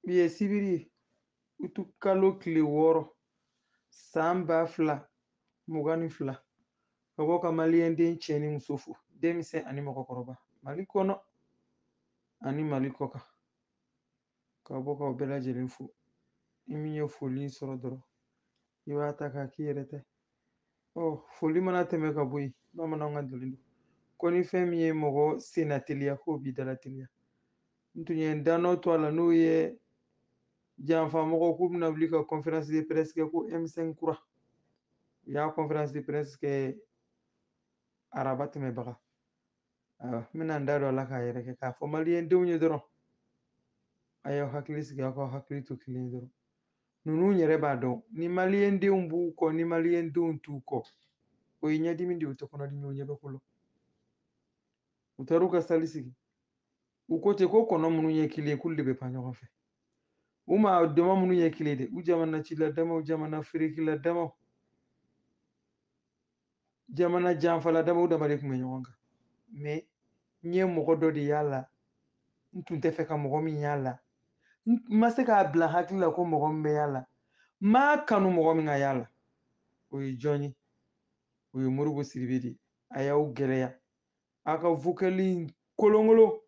bi ye sibiri ye utu kalo kile wɔɔrɔ san ba fila mugan ni fila ka bɔ ka maliyɛnden cɛ ni muso fo denmisɛn ani mɔgɔkɔrɔba mali kɔnɔ ani mali kɔkan ka bɔ k'aw bɛɛ lajɛlen fo ni min ye foli sɔrɔ dɔrɔn i b'a ta k'a k'i yɛrɛ ta ye foli mana tɛmɛ ka bɔ yen bamananw ka ntalen don ko ni fɛn min ye mɔgɔ senna teliya k'o b'i dala teliya n tun ye n danɔ to a la n'o ye janfamɔgɔw k'u bɛna wuli ka conférence de presse kɛ ko m5 kura u y'a conférence de presse kɛ araba tɛmɛbaga n bɛna n da don a la k'a yɛrɛ kɛ k'a fɔ maliyɛndenw ye dɔrɔn a y'aw hakili sigi aw k'aw hakili to kelen dɔrɔn ninnu yɛrɛ b'a dɔn ni maliyɛndenw b'u kɔ ni maliyɛndenw t'u kɔ o ye ɲɛdimi de ye o tɛ kɔnɔdimi o ɲɛ bɛ ko la u taar'u ka sali sigi u ko ten ko kɔnɔ minnu ye kelen k'olu de bɛ pan ɲɔgɔn fɛ u maa dama minnu ye kelen de u jamana cila damaw jamana feerekila damaw jamana janfala damaw dama de tun bɛ ɲɔgɔn kan mais n ye mɔgɔ dɔ de y'a la n tun tɛ fɛ ka mɔgɔ min y'a la n ma se k'a bila hakili la ko mɔgɔ min bɛ y'a la n m'a kanu mɔgɔ min ka y'a la o ye jɔn ye o ye moribo sidibe de ye a y'aw gɛlɛya a ka vocal kolonkolon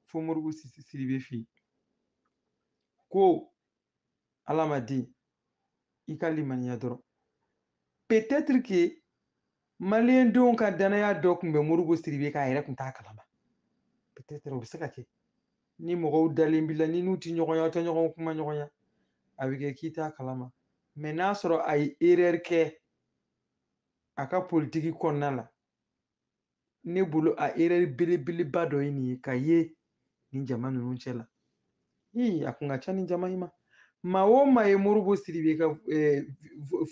fo moribo sidibe fɛ yen ko ala maa den i ka limaniya dɔrɔn peut-être que maliyɛndenw ka danaya dɔ tun bɛ moribo sidibe kan a yɛrɛ tun t'a kalama peut-être o bɛ se ka kɛ ni mɔgɔw dalen b'i la ni n'u tɛ ɲɔgɔn ye aw tɛ ɲɔgɔn kumaɲɔgɔnya a bɛ kɛ k'i t'a kalama mais n'a sɔrɔ a ye erreur kɛ a ka politiki kɔnɔna la ne bolo a erreur belebeleba dɔ ye nin ye ka ye nin jama ninnu cɛ la ii a kun ka ca nin jama in ma maa o maa ye moribo sidibe ka eh,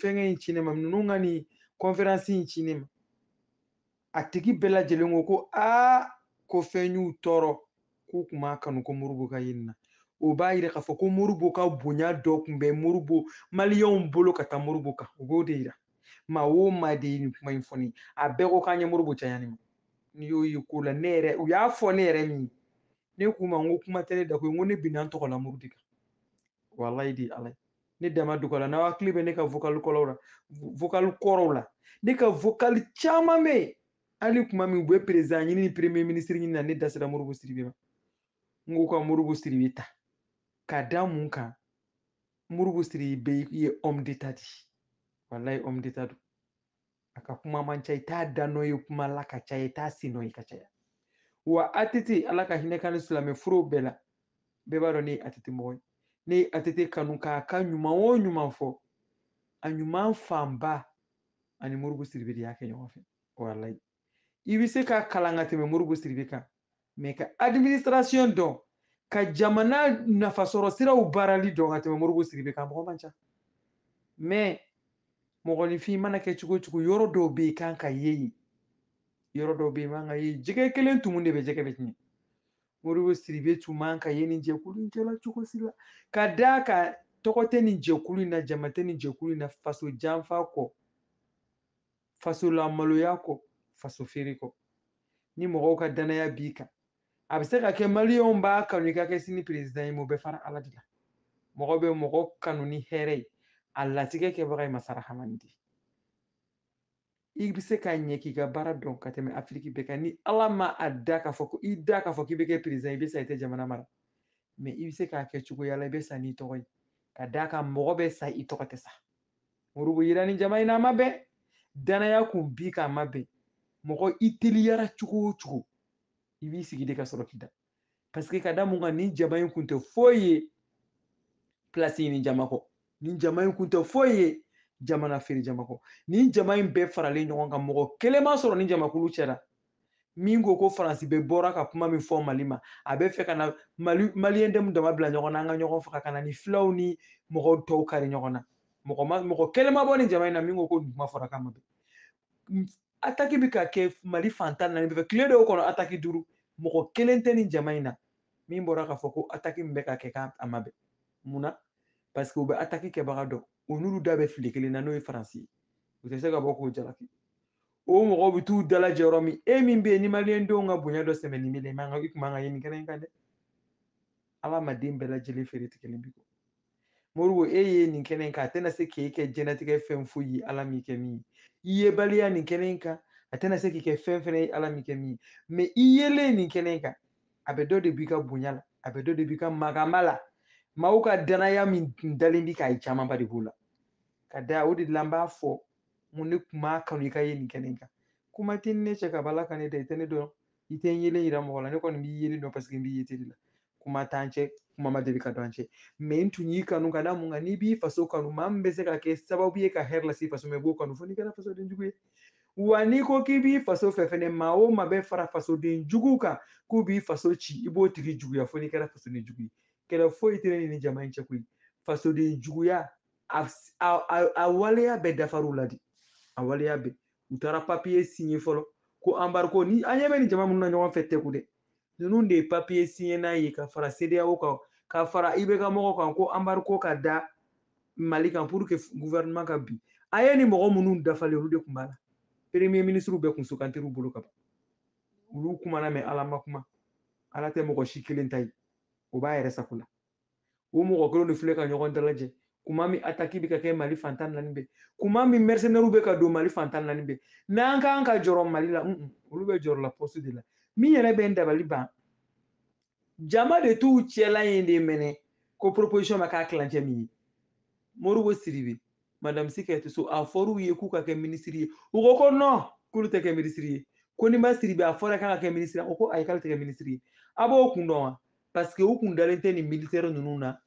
fɛngɛ in ci ne ma ninnu ka nin conférence in ci ne ma a tigi bɛɛ lajɛlen ko ko aa ko fɛn y'u tɔɔrɔ k'u kun m'a kanu ko moribo ka ye nin na o b'a yira k'a fɔ ko moribo ka bonya dɔ tun bɛ moribo maliyɛnw bolo ka taa moribo kan o b'o de yira maa o maa de ye nin kuma in fɔ ne ye a bɛɛ ko k'an ye moribo caya ne ma n'i y'o ye ko la ne yɛrɛ u y'a fɔ ne yɛrɛ min ne k'u ma n ko kuma tɛ ne da ko n ko ne binna n tɔgɔla muru de kan walayi de ala ye ne dama dugala n'aw hakili bɛ ne ka vocal kɔrɔw la ne ka vocal caman bɛ yen hali kuma min u bɛ perezidan ɲini ni premier minisiri ɲini na ne da sera moribo siribe ma n ko ka moribo siribe ta ka da mun kan moribo siribe ye homme d'état de ye walayi homme d'état don a ka kuma man ca i t'a da nɔ ye kuma la ka caya i t'a sen nɔ ye ka caya wa atete ala ka hinɛ kan ni silamɛ furew bɛɛ la bɛɛ b'a dɔn ne ye atete mɔgɔ ye ne ye atete kanu k'a ka ɲuman o ɲuman fɔ a ɲuman fanba ani moribo siribe de y'a kɛ ɲɔgɔn fɛ walayi i bɛ se ka kalan ka tɛmɛ moribo siribe kan mɛ ka administration dɔn ka jamana nafasɔrɔ siraw baarali dɔn ka tɛmɛ moribo siribe kan mɔgɔ man ca mɛ mɔgɔninfin mana kɛ cogo o cogo yɔrɔ dɔw bɛ yen i kan ka ye yen yɔrɔ dɔw bɛ yen i man ka ye jɛgɛ kelen tumu de bɛ jɛgɛ bɛɛ tiɲɛ moribo siribe tun man ka ye nin jɛkulu in cɛla cogo si la ka d'a kan tɔgɔ tɛ nin jɛkulu in na jama tɛ nin jɛkulu in na faso janfa kɔ faso lamaloya kɔ faso feere kɔ ni mɔgɔw ka danaya b'i kan a bɛ se ka kɛ maliyɛnw b'a kanu i ka kɛ sini perezidan ye mɛ o bɛ fara ala de la mɔgɔ bɛ mɔgɔ kanu ni hɛrɛ ye a latigɛ kɛbaga ye masa rahamani de i bɛ se ka ɲɛ k'i ka baara dɔn ka tɛmɛ afiriki bɛɛ kan ni ala ma a da k'a fɔ ko i da k'a fɔ k'i bɛ kɛ perezidan i bɛ sa i tɛ jamana mara mɛ i bɛ se k'a kɛ cogoya la i bɛ sa n'i tɔgɔ ye ka d'a kan mɔgɔ bɛ sa i tɔgɔ tɛ sa moribo yera nin jama in na a ma bɛn danaya kun b'i kan a ma bɛn mɔgɔ i teliyara cogo o cogo i b'i sigi de ka sɔrɔ k'i da paseke ka da mun kan nin jama in kun tɛ foyi ye pilasi ɲini jama kɔ nin jama in kun tɛ foyi ye jamana feere jama kɔ nin jama in bɛɛ faralen ɲɔgɔn kan mɔgɔ kelen ma sɔrɔ nin jamakulu cɛra min ko ko faransi bɛ bɔra ka kuma min fɔ mali ma a bɛ fɛ ka na mali maliyɛndenw dama bila ɲɔgɔn na an ka ɲɔgɔn faga ka na ni filaw ni mɔgɔ tɔw kari ɲɔgɔn na mɔgɔ ma mɔgɔ kelen ma bɔ nin jama in na min ko ko nin kuma fɔra k'a ma bɛn ataki bɛ ka kɛ mali fan tan naani bɛɛ fɛ tile dɔw kɔnɔ ataki duuru mɔgɔ kelen tɛ nin jama in na min bɔra k'a fɔ ko ataki min bɛ ka kɛ k'a ma bɛn mun na parce que u bɛ ataki kɛbaga dɔn u n'olu da bɛ filen kelen na n'o ye faransi ye u tɛ se ka bɔ k'o jalaki o mɔgɔw bɛ t'u dalajɛ yɔrɔ min e min bɛ yen ni maliyɛndenw ka bonya dɔ sɛmɛnen bɛ i man ka i kun man ka ye nin kɛnɛ in kan dɛ adamaden bɛɛ lajɛlen feere tigɛlen b'i kɔ moribo e ye nin kɛnɛ in kan a tɛna se k'e kɛ jɛnatigɛ fɛn foyi ye ala m'i kɛ min ye i yebaliya nin kɛnɛ in kan a tɛna se k'i kɛ fɛn fɛnɛ ye ala m'i kɛ min ye mɛ i yelen nin kɛnɛ in kan a bɛ dɔ de b'i ka bonya la a bɛ dɔ de b'i ka magama la maaw ka danaya min dalen b'i kan camanba de b'o la ka da o de la n b'a fɔ mun ne kun b'a kanu i ka ye nin kɛnɛ in kan kuma tɛ ne cɛ kabi ala ka ne da i tɛ ne dɔn i tɛ n yelen yira mɔgɔ la ne kɔni b'i yelen dɔn paseke n b'i ye tele la kuma t'an cɛ kuma ma deli ka don an cɛ mais n tun y'i kanu ka da mun kan n'i b'i faso kanu maa min bɛ se ka kɛ sababu ye ka hɛrɛ lase faso ma i b'o kanu fo n'i kɛra fasoden jugu ye wa n'i ko k'i b'i faso fɛ fɛnɛ maa o maa bɛ fara fasoden jugu kan k'u b'i faso ci i b'o tigi juguya fo n'i kɛra fasoden jugu ye kɛlɛ foyi tɛ ne ni jama in cɛ koyi fasoden juguya a waleya bɛɛ dafar'u la de a waleya bɛɛ u taara papiye signé fɔlɔ ko embargo ni an ɲɛ bɛ nin jama minnu na ɲɔgɔn fɛ tɛku dɛ ninnu de ye papiye signé n'a ye ka fara cedeao kan ka fara ibk mɔgɔw kan ko embargo ka da mali kan pour que gouvernement ka bin a ye nin mɔgɔ minnu dafalen olu de tun b'a la premier ministre bɛɛ tun sugandir'u bolo ka ban olu kumana mais ala ma kuma ala tɛ mɔgɔ si kelen ta ye o b'a yɛrɛ sago la o mɔgɔ kelen de filɛ ka ɲɔgɔn dalajɛ kuma min ataki bɛ ka kɛ mali fan tan ni naani bɛɛ kuma min mercenaires bɛ ka don mali fan tan ni naani bɛɛ n'an kan ka jɔrɔ mali la olu bɛ jɔrɔ la poste de la min yɛrɛ bɛ n dabali ban jama de t'u cɛla in de mɛnɛ ko proposition ma k'a tilancɛ min ye modibo sidibe madame sy kadiatou sow a fɔr'u ye k'u ka kɛ minisiri ye u ko ko non k'olu tɛ kɛ minisiri ye konimba sidibe a fɔra k'a ka kɛ minisiri ye a ko ko ayi k'ale tɛ kɛ minisiri ye a b'o kun dɔn wa parce que u kun dalen tɛ nin militɛri ninnu na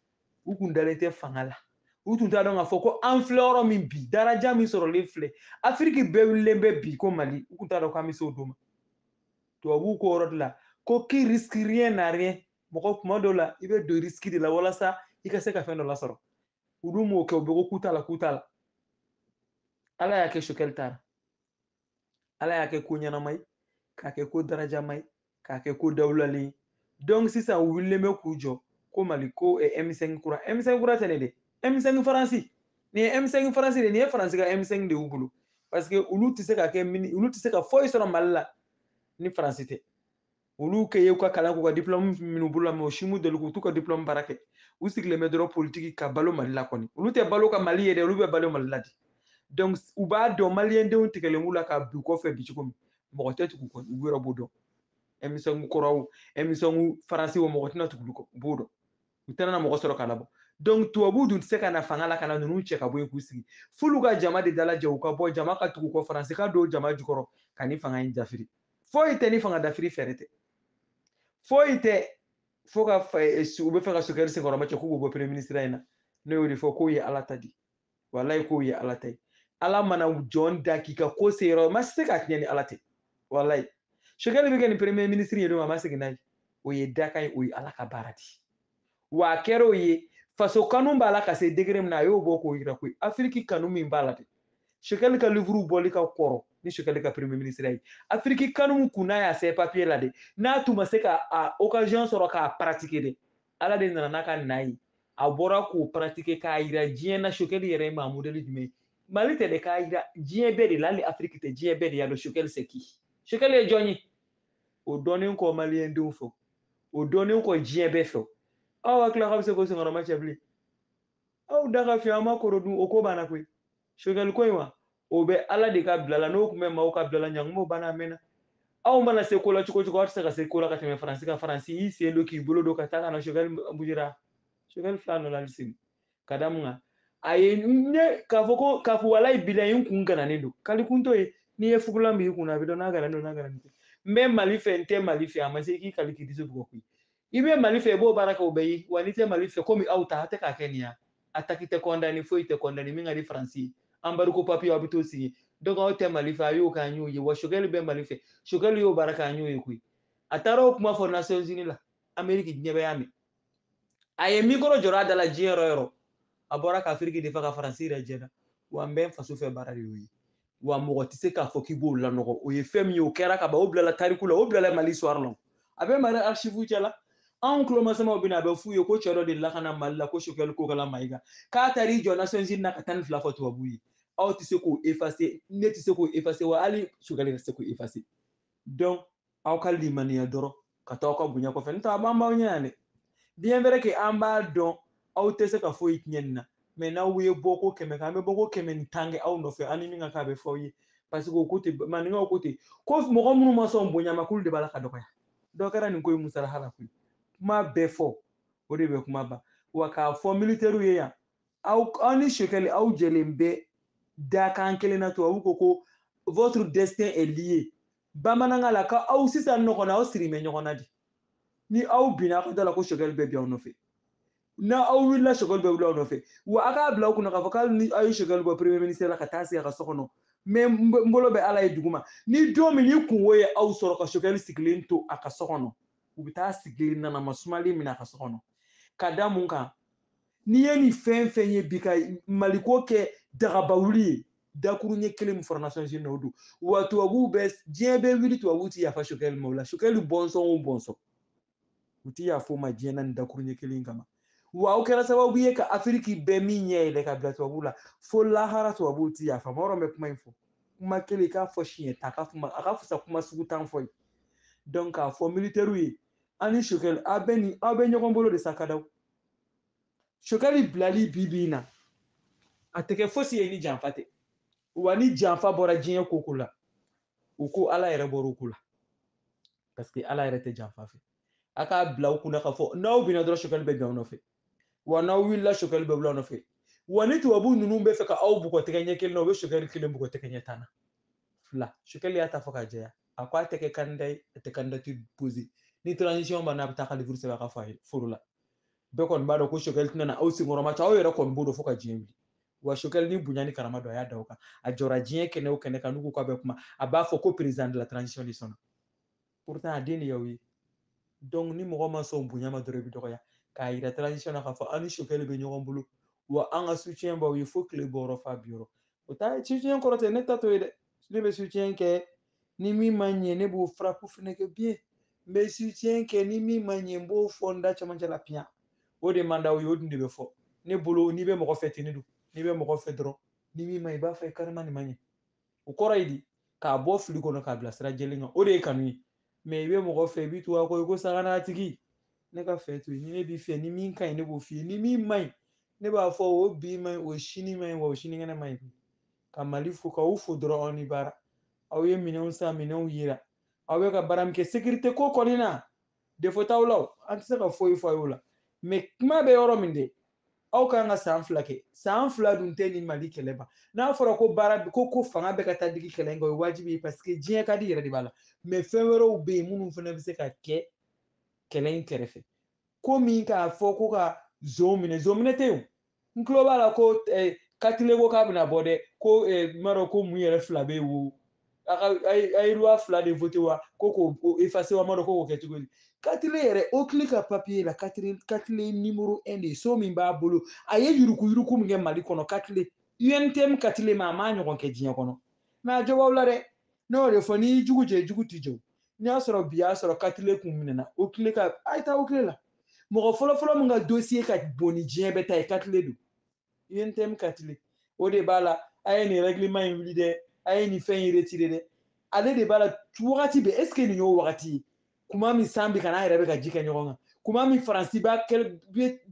u kun dalen tɛ fanga la u tun t'a dɔn k'a fɔ ko an filɛ yɔrɔ min bi daraja min sɔrɔlen filɛ afiriki bɛɛ wulilen bɛ bi ko mali u tun t'a dɔn k'an bɛ se o don ma tubabuw k'o yɔrɔ de la ko qui risque rien n'a rien mɔgɔ kuma dɔw la i bɛ don risque de la walasa i ka se ka fɛn dɔ lasɔrɔ olu m'o kɛ u bɛɛ ko k'u t'a la k'u t'a la ala y'a kɛ choguel taara ala y'a kɛ ko ɲɛnama ye k'a kɛ ko darajama ye k'a kɛ ko dawulalen ye donc sisan u wulilen bɛ k'u jɔ ko mali ko eh, m5 kura m5 kura tɛ nin dɛ m5 faransi nin ye m5 faransi de nin ye faransi ka m5 de y'u bolo parce que olu tɛ se ka kɛ olu tɛ se ka foyi sɔrɔ mali la ni faransi tɛ olu kɛ y'u ka kalan k'u ka diplɔmu minɛ u bolo la mais o si m'u deli k'u t'u ka diplɔmu baara kɛ u sigilen bɛ dɔrɔn politiki ka balo mali la kɔni olu tɛ balo ka mali ye dɛ olu bɛ balo mali la di donc u b'a dɔn maliyɛndenw tigɛlen b'u la ka bi kɔfɛ bi cogo min mɔgɔ tɛ tugu u kɔ u yɛrɛ b'o dɔn m5 kɔrɔw m5 faransi o mɔgɔ tɛna tugu u b'o dɔn u tɛna na mɔgɔ sɔrɔ ka labɔ donc tubabu dun tɛ se ka na fanga la ka na ninnu cɛ ka bɔ yen k'u sigi f'olu ka jama de dalajɛ u ka bɔ jama ka tugu u kɔ faransi ka don jama jukɔrɔ ka nin fanga in dafiri foyi tɛ nin fanga dafiri fɛɛrɛ tɛ foyi tɛ fo ka u b'a fɛ ka choguel senkɔrɔmacɛ k'u b'o bɔ premier ministre in na ne y'o de fɔ k'o ye ala ta di walayi k'o ye ala ta ye ala mana jɔn da k'i ka ko se yɔrɔ ma se ka tiɲɛ ni ala tɛ walayi sokɛli bɛ kɛ nin premier ministre ye don a ma segin n'a ye o ye dakan ye o ye ala ka baara di wa a kɛra o ye faso kanu b'a la ka se degré min na a y'o bɔ k'o yira koyi afiriki kanu min b'a la de sokɛli ka livuru bɔli ka kɔrɔ ni sokɛli ka premier ministre ye afiriki kanu kun n'a y'a sɛbɛn papiye la de n'a tun ma se ka a occasion sɔrɔ k'a pratiquer de ala de nana n'a ka na ye a bɔra k'o pratiquer k'a yira diɲɛ na sokɛli yɛrɛ ye maa modèle jumɛn ye mali tɛ dɛ k'a yira diɲɛ bɛɛ de la hali afiriki tɛ diɲɛ bɛɛ de y'a dɔn sokɛli c'est qui sokɛli ye jɔn ye o dɔnnen kɔ maliyɛndenw fɛ o dɔnnen kɔ diɲɛ bɛɛ fɛ aw hakili la k'aw bɛ se k'o senkɔrɔma cɛ bilen aw da ka fiɲɛ aw ma koro dun o ko banna koyi sogɛli ko in wa o bɛ ala de ka bila la n'o tun bɛ maaw ka bila la ɲangumo banna a mɛnna aw mana se ko la cogo cogo aw tɛ se ka se ko la ka tɛmɛ faransi kan faransi y'i sen don k'i bolo don ka taa ka na sogɛli bujira sogɛli filɛ a nɔ la hali sini ka da mun kan a ye ne k'a fɔ ko k'a fɔ walayi bilayi n kun gananen don kali kun t'o ye n'i ye fugulan b'i kun na a bɛ dɔn n'a gananen don n'a gananen tɛ n bɛ mali fɛ n tɛ mali fɛ a ma se k'i kali k'i disi bugɔ koyi i bɛ mali fɛ i b'o baara kɛ o bɛ ye wa n'i tɛ mali fɛ komi aw ta a tɛ k'a kɛ nin ya attaque tɛ condamné foyi tɛ condamné min ka di faransi ye embargo papiye aw bɛ t'o signer donc aw tɛ mali fɛ a y'o k'an y'o ye wa sokɛli bɛ mali fɛ sokɛli y'o baara k'an y'o ye koyi a taara o kuma fɔ nations unies la ameriki diɲɛ bɛɛ y'a mɛn a ye mikoro jɔrɔ a da la diɲɛ yɔrɔ yɔrɔ a bɔra ka afiriki défendre ka faransi yɛrɛ jɛna wa n bɛ n faso fɛ baara de y'o ye wa mɔgɔ tɛ se k'a fɔ k'i b'o lanɔgɔ o ye fɛn min ye o kɛra ka ban o bilala tariku la o bilala mali histoire la a bɛ mali archive cɛ la anw tulomasamaw bɛna a bɛ f'u ye ko cɛ dɔ delila ka na mali la ko sokɛli kokala mayiga k'a taara i jɔ nations unies na ka tan ni fila fɔ tubabu ye aw tɛ se k'o effacer ne tɛ se k'o effacer wa hali sokɛli tɛ se k'o effacer donc aw ka limaniya dɔrɔn ka taa aw ka bonya kɔfɛ n'o tɛ a b'an b'aw ɲɛ yan dɛ bien vrai que an b'a dɔn aw tɛ se ka foyi tiɲɛ nin na mais n'aw ye bɔ ko kɛmɛ kɛ an bɛ bɔ ko kɛmɛ ni tan kɛ aw nɔfɛ aw ni min ka kan a bɛ fɔ aw ye parce que o ko ten maninkaw ko ten ko mɔgɔ minnu ma sɔn bonya ma k'olu de b'a la ka dɔgɔya dɔ kɛra nin ko ye musalaha la koyi kuma bɛɛ fɔ o de bɛ kuma ban wa k'a fɔ militɛriw ye yan aw aw ni sokɛli aw jɛlen bɛ dakan kelen na tubabu ko ko votre destin est lié bamanankan la ka aw sisan ɲɔgɔn na aw sirilen bɛ ɲɔgɔn na de ni aw binna aw ka da la ko sɔgɛli bɛ bin aw nɔfɛ ni aw wulila sɔgɛli bɛ wuli aw nɔfɛ wa aw k'a bila aw kunna k'a fɔ ko hali ni aw ye sɔgɛli bɔ premier ministre la ka taa sigi a ka so kɔnɔ mais n bolo bɛ ala ye duguma ni don min ni kunko ye aw sɔrɔ ka sɔgɛli sigilen to a ka so kɔnɔ u bɛ taa sigilen ɲɛnama sumalen minɛ a ka so kɔnɔ ka da mun kan n'i ye nin fɛn fɛn ye bi ka maliko kɛ dagaba wuli ye dakuru ɲɛ kelen min fɔra nations unies o don wa tubabuw bɛ diɲɛ bɛ wuli tubabuw ti yafa sokɛli ma o la sokɛli bɔnsɔn o bɔnsɔn u ti yafa o ma diɲɛ na nin dakuru ɲɛ kelen kama wa o kɛra sababu ye ka afiriki bɛɛ min ɲɛ yɛlɛ ka bila tubabuw la fo lahara tubabuw ti yaf'a ma yɔrɔ bɛ kuma in fɔ kuma kelen k'a fɔ siɲɛ tan ka kuma a ka fisa kuma sugu tan fɔ ye donc k'a fɔ militɛriw ye ani sokɛli aw bɛ nin aw bɛ ɲɔgɔn bolo de sa kadaw sokɛli bilali bi bi in na a tɛ kɛ fosi ye ni janfa tɛ wa ni janfa bɔra diɲɛ ko o ko la u ko ala yɛrɛ bɔra o ko la parce que ala yɛrɛ tɛ janfa fɛ a k'a bila u kunna k'a fɔ n'aw binna dɔrɔn sokɛli bɛ bin aw nɔfɛ wa n'aw wulila sokɛli bɛ wuli aw nɔfɛ wa ni tubabu ninnu bɛ fɛ ka aw bugɔ tɛgɛ ɲɛ kelen na u bɛ sokɛli kelen bugɔ tɛgɛ ɲɛ tan na fila sokɛli y'a ta fɔ k'a jɛya a ko a tɛ kɛ kandida ye a tɛ kandidatiri poze ni transition banna a bɛ taa ka livuru sɛbɛn a ka fa foro la bɛɛ kɔni b'a dɔn ko sokɛli tɛna aw senkɔrɔma cɛ aw yɛrɛ kɔni b'o dɔn fo ka diɲɛ wuli wa sokɛli ni bonya ni karama dɔ a y'a da aw kan a jɔra diɲɛ kɛnɛ o kɛnɛ kan n'u ko k'a bɛ kuma a b'a fɔ ko président de la transition de sɔnna pourtant a den de y'aw ye donc ni mɔgɔ ma sɔn bonya ma dɔrɔn i bɛ dɔgɔya k'a yira transition na k'a fɔ aw ni sokɛli bɛ ɲɔgɔn bolo wa an ka soutien b'aw ye fo tile bɔyɔrɔ f'a binyɔrɔ o t'a soutien kɔrɔ tɛ ne ta t'o ye dɛ ne bɛ sutiyɛn kɛ ni min ma ɲɛ ne b'o faraku fɛnɛ kɛ bien n bɛ sutiyɛn kɛ ni min ma ɲɛ n b'o fɔ n da cɛmancɛ la piyan o de man d'aw ye o dun de bɛ fɔ ne bolo n'i bɛ mɔgɔ fɛ ten ne don n'i bɛ mɔgɔ fɛ dɔrɔn ni min ma ɲi i b'a f'a ye carrément nin ma ɲɛ o kɔrɔ ye di k'a bɔ fili kɔnɔ k'a bila sira jɛlen kan o de ye kanu ye mɛ i bɛ mɔgɔ fɛ i b'i tugu a kɔ i ko saga n'a tigi ne ka fɛ t'o ye ni ne b'i fɛ ni min ka ɲi ne b'o f'i ye ni min ma ɲi ne b'a fɔ o bi ma ɲi o sini ma ɲi wa o sinikɛnɛ ma ɲi ka mali fo k'aw fo dɔrɔn aw ni baara aw ye minɛnw san minɛnw yira aw bɛ ka baara min kɛ sekirite ko kɔni na defo t'aw la an tɛ se ka foyi fɔ aw y'o la mɛ kuma bɛ yɔrɔ min de aw kan ka san fila kɛ san fila dun tɛ nin mali kɛlɛ ban n'a fɔra ko baara ko ko fanga bɛ ka taa digi kɛlɛ in kan o ye wajibi ye parce que diɲɛ ka di yɛrɛ de b'a la mɛ fɛn wɛrɛw bɛ yen minnu fana bɛ se ka kɛ kɛlɛ in kɛrɛfɛ ko min k'a fɔ ko ka zon minɛ zon minɛ tɛ yen n tulo b'a la ko eh, katile ko k'a bɛna bɔ dɛ ko eh, n m'a dɔn ko mun yɛrɛ fila bɛ wo a ka a ye loi fila de voté wa ko k'o effacer wa n m'a dɔn ko k'o kɛ cogo di katile yɛrɛ oclei ka papiye la katile katile nimoro un de ye so min b'a bolo a ye yuruku yuruku min kɛ mali kɔnɔ katile untm katile ma a m'a ɲɔgɔn kɛ diɲɛ kɔnɔ mɛ a jo b'aw la dɛ ne y'o de fɔ n'i y'i jugu jɛ jugu t'i jɛ n'i y'a sɔrɔ bi y'a sɔrɔ katile kun minɛna oclei ka a ye taa oclei la mɔgɔ fɔlɔfɔlɔ min ka dosiye ka bon ni diɲɛ bɛɛ ta ye katile don untm katile o de b'a la a ye nin règlement in wuli dɛ a ye nin fɛn in retire dɛ ale de b'a la wagati bɛɛ est ce que nin y'o wagati ye kuma min san bɛ ka n'a yɛrɛ bɛ ka ji kɛ ɲɔgɔn kan kuma min faransi b'a ka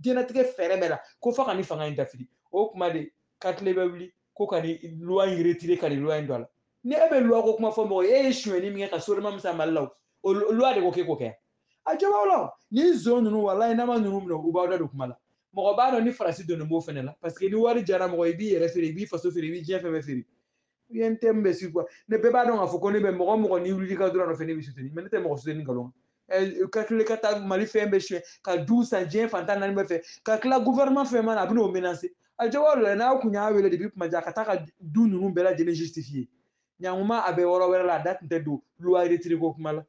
diɲɛnatigɛ fɛɛrɛ bɛɛ la ko fo ka nin fanga in dafiri o kuma de katile bɛ wuli ko ka nin loi in retire ka nin loi in don a la ni e bɛ loi ko kuma fɔ mɔgɔ ye e ye sonyɛni min kɛ ka so dama min san mali la o loi de ko k'e k'o kɛ a jɔ b'aw la ni zon ninnu walayi n'a ma ninnu minɛ u b'aw da don kuma la mɔgɔ b'a dɔn ni faransi donnen b'o fɛnɛ la parce que ni wari jara mɔgɔ i b'i yɛrɛ feere i b'i faso feere i b'i diɲɛ fɛn bɛɛ feere untm bɛ si quoi ne bɛɛ b'a dɔn k'a fɔ ko ne bɛ mɔgɔ mɔgɔ n'i wulil'i ka droit nɔfɛ ne bɛ soutenir mais ne tɛ mɔgɔ soutenir nkalon katile ka taa mali fɛn bɛɛ suɲɛ ka du san diɲɛ fantan naani bɛɛ fɛ ka tila gouvernement fɛn mana a bɛ n'o menacer a jɔ b'aw la n'aw kun y'a wele depuis kuma jan ka taa ka du ninnu bɛɛ lajɛlen justifier ɲankuma a bɛ yɔrɔ wɛrɛ la a da tun tɛ don loi retire ko kuma la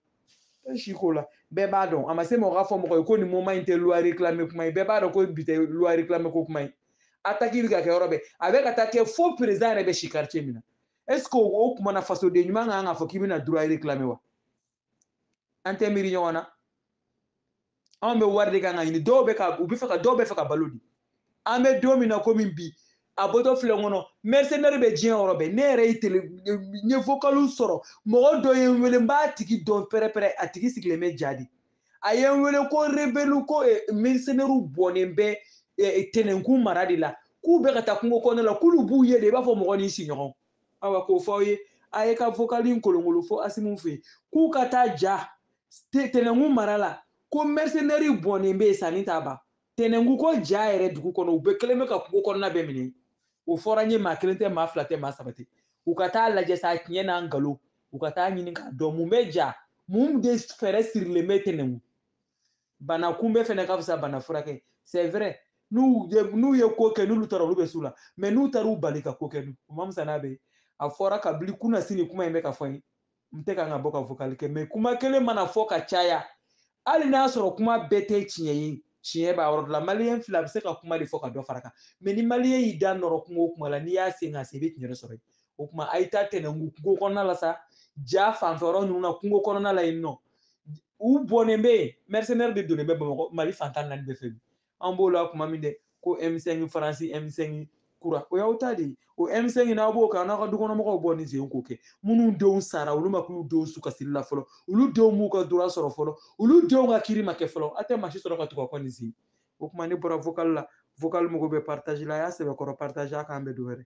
tɛ si ko la bɛɛ b'a dɔn a ma se mɔgɔ ka fɔ mɔgɔ ye ko nin moment in tɛ loi réclame kuma ye bɛɛ b'a dɔn ko bi tɛ loi réclame ko kuma ye attaque bɛ ka kɛ yɔrɔ bɛɛ a bɛ ka taa kɛ fo président yɛrɛ bɛ si quartier min na est ce que o kuma na fasoden ɲuman kan ka fɔ k'i bɛna droit réclame wa an tɛ miiri ɲɔgɔn na anw bɛ wari de kan ka ɲini dɔw bɛ ka u bɛ fɛ ka dɔw bɛ fɛ ka balo di an bɛ don min na komi bi a bɔtɔ filɛ n kɔnɔ mɛrisɛnɛri bɛ diɲɛ yɔrɔ bɛɛ ne yɛrɛ ye tele n ye vokaliw sɔrɔ mɔgɔ dɔ ye n wele n b'a tigi dɔn pɛrɛpɛrɛ a tigi sigilen bɛ ja de a ye n wele ko rebelu ko eh, mɛrisɛnɛriw bɔnnen bɛ eh, tɛnɛnkun mara de la k'u bɛ ka taa kungo kɔnɔna la k'olu b'u ye de i b'a fɔ mɔgɔ n'i siɲɔgɔn awa k'o fɔ aw ye a ye ka vokali in kolonkolon fo asimiw fɛ k'u ka taa ja tɛnɛnkun mara la ko mɛrisɛnɛri bɔnnen bɛ yen sanni t'a ban tɛnɛnkun ko ja yɛrɛ dugu kɔnɔ u bɛɛ kɛlen bɛ ka kungo kɔnɔna bɛɛ minɛ o fɔra n ye maa kelen tɛ maa fila tɛ maa saba tɛ u ka taa lajɛ sa tiɲɛ n'a nkalon u ka taa ɲini k'a dɔn mun bɛ ja mun de fɛɛrɛ sirilen bɛ tɛnɛnkun bana kunbɛn fɛnɛ ka fisa bana furakɛ c'est vrai n'u ye n'u ye ko kɛ n'olu taara olu bɛ s'u la mais n'u taara u bali ka ko kɛ dun o ma fisa n'a bɛɛ a fɔra kabini kunnasini kuma in bɛ ka fɔ n ye n tɛ kan ka bɔ ka vokali kɛ mais kuma kelen mana fɔ ka caya hali n'a sɔrɔ kuma bɛɛ tɛ tiɲɛ ye tiɲɛ b'a yɔrɔ dɔ la maliyɛn fila a bɛ se ka kuma de fɔ ka dɔ fara kan mais ni maliyɛn y'i da nɔrɔ kuma o kuma la n'i y'a sen ka se i bɛ tiɲɛ de sɔrɔ yen o kuma a ye taa tɛnɛnku kungo kɔnɔna la sa ja fanfɛ yɔrɔ ninnu na kungo kɔnɔna la yen nɔ u bɔnnen bɛ yen mɛrisɛnɛri de donnen bɛ bamakɔ mali fantan naani bɛɛ fɛ bi an b'o la kuma min dɛ ko m5 faransi m5 kura o y'aw ta de ye o m5 n'aw b'o kan n'aw ka dukɔnɔmɔgɔw bɔ nin sen k'o kɛ minnu denw sara olu ma k'u denw su kasiri la fɔlɔ olu denw m'u ka droit sɔrɔ fɔlɔ olu denw ka kiiri ma kɛ fɔlɔ a tɛ maa si sɔrɔ ka tugu a kɔ nin sen o tuma ne bɔra vocal la vocal mago bɛ partage la a y'a sɛbɛkɔrɔ partage a k'an bɛn don wɛrɛ